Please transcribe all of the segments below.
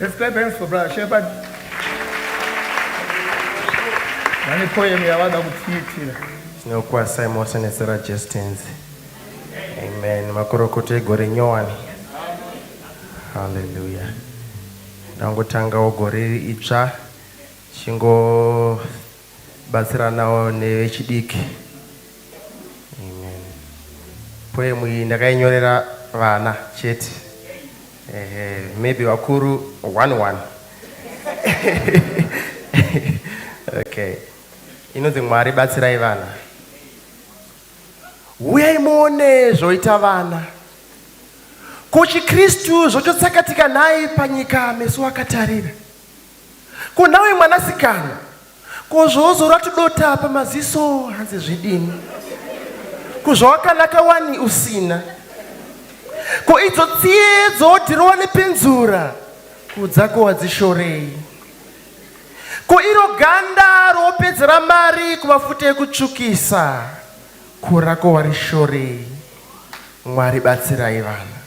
Let's clap hands for brother Shepherd. Vane poem yavada kutiitira. Tinokwasa imosa nezera Justins. Amen. Makorokoto egore nyowani. Hallelujah. Ndangotanga gore itsva chingo Batsiranawo nevechidiki. Amen. Poem iyi ndakainyorera vana chete. Ehe, maybe vakuru one one. okay. Inonzi Mwari batsirai vana. Uyai muone zvoita vana. Ko chiKristu zvochotsakatika nhai panyika meso akatarira. Ko nawe mwanasikana, ko zvoozora tudota apa maziso hanzi zvidini? Ko zvawakanaka wani usina? Ko idzo tsiye dzoodhirowa nepenzura kudzako wadzishorei? Ko iro ganda roopedzera mari kumafute ekutsvukisa ko rako warishorei? Mwari batsirai vana.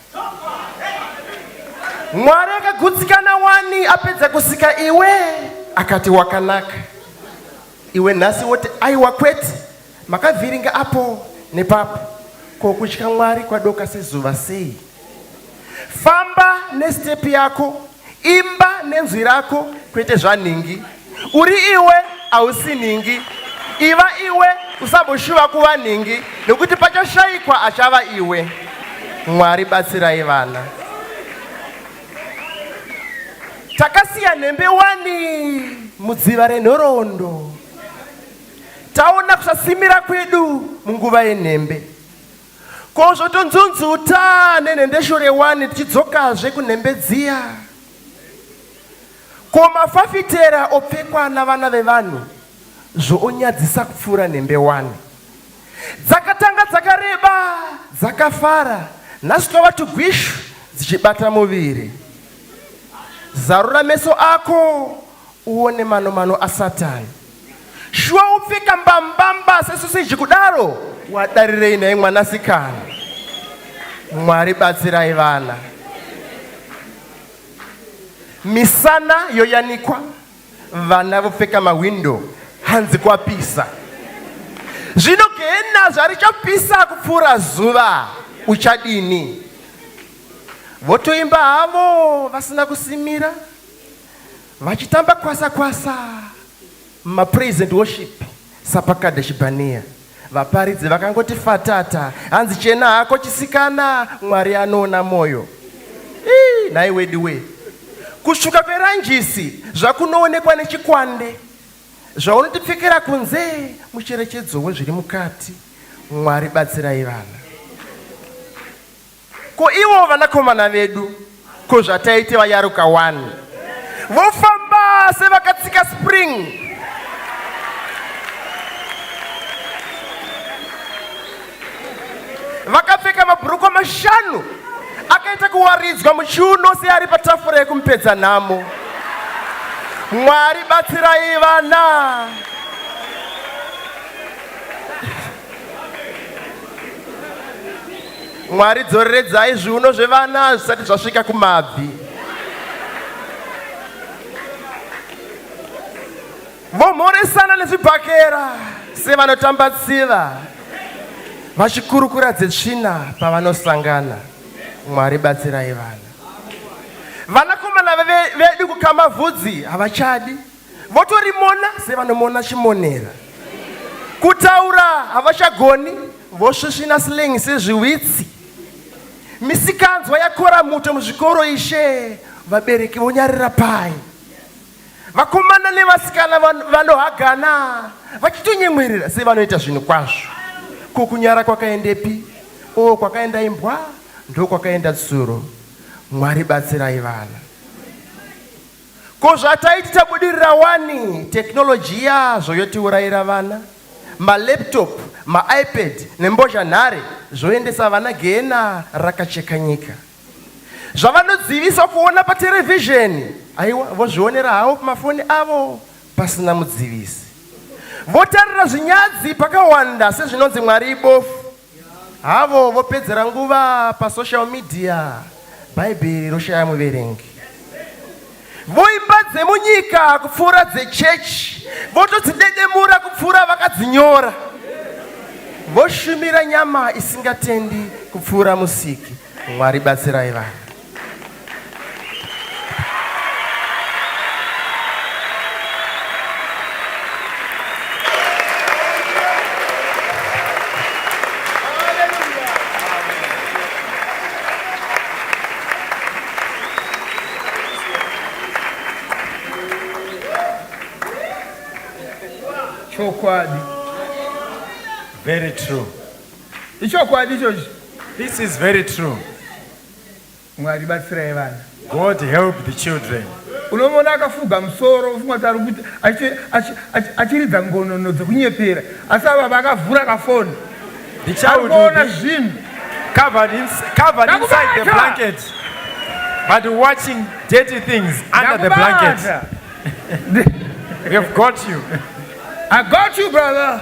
Mwari akagutsikana wani apedza kusika iwe akati wakanaka. Iwe nhasi woti aiwa kwete makavhiringa apo nepapo ko kutya Mwari kwadoka sezuva sei? Famba nestepi yako Imba nenzwi rako kwete zvanhingi. Uri iwe hausi nhingi. Iva iwe usamboshuva kuva nhingi nekuti pachashaikwa achava iwe. Mwari batsirai vana. Takasiya nhembe wani mudziva renhoroondo. Taona kusasimira kwedu munguva yenhembe. Ko zvotonzunzuta nenhendeshure wani tichidzokazve kunhembe dziya. Ko mafafitera opfekwa navana vevanhu zvoonyadzisa kupfuura nhembe wani. Dzakatanga dzakareba dzakafara nhasi twava tugwishu dzichibata muviri. Zarura meso ako Uone mano mano asatan. Shuwa upfeka mbambamba sesosiji kudaro wadarirei nhai mwanasikana. Mwari batsirai vana. Misana yoyanikwa vana vopfeka mahwindo hanzi kwapisa. Zvino gehena zvarichapisa kupfuura zuva uchadini? Votoimba havo vasina kusimira. vachitamba kwasa kwasa mapraise and worship sapakada chibhaniya vaparidzi vakangoti fatata hanzi chena hako chisikana mwari anoona mwoyo nhai wedi we kusvuka kweranjisi zvakunoonekwa nechikwande zvaunotipfekera kunze mucherechedzo wezviri mukati mwari batsirai vana Ko ivo vanakomana vedu ko zvataite vayaruka wani vofamba sevakatsika spring vakapfeka mabhurukwa mashanu akaita kuwaridzwa muchiuno seari patafura yekumupedza nhamo mwari batsirai vana Mwari dzoreredzai zviuno zvevana zvisati zvasvika kumabvi. Vomhoresana nezvibhakera sevanotamba tsiva vachikurukura dzetsvina pavanosangana. Mwari batsirai vana. Vanakomana vedu kukamavhudzi havachadi votorimona sevanomona chimonera kutaura havachagoni vosvisvina slang sezviwitsi misikanzwa yakora muto muzvikoro ishe vabereki vonyarira pai vakomana nevasikana vanohagana vachitonyemwerera sevanoita zvinhu kwazvo ko kunyara kwakaendepi o kwakaenda imbwa ndokwakaenda tsuro mwari batsirai vana Ko zvataiti tabudirira wani technology yazvo yotiurayira vana malaptop maipad nembozhanhare zvoendesa vana gehena rakacheka nyika zvavanodzivisa kuona paterevhizheni aiwa vozvionera havo pamafoni avo pasina mudzivisi votarira zvinyadzi pakawanda sezvinonzi mwari ibofu Havo vopedzera nguva pasocial media, Bhaibheri roshaya muverengi. Voimba dzemunyika kupfuura dzechechi, votodzidedemura kupfuura vakadzinyora. Voshumira nyama isingatendi kupfuura musiki. Mwari batsirai vanhu. chokwadi very true ichokwadi ichochi this is very true Mwari batsirai vana. God help the children. Unomona akafuga musoro ufunga kuti ari kuti achiridza ngonono dzekunyepera asi ava vakavhura kafoni ndichaona zvinhu covered, in, covered inside the blanket but watching dirty things under the blanket we have got you I got you brother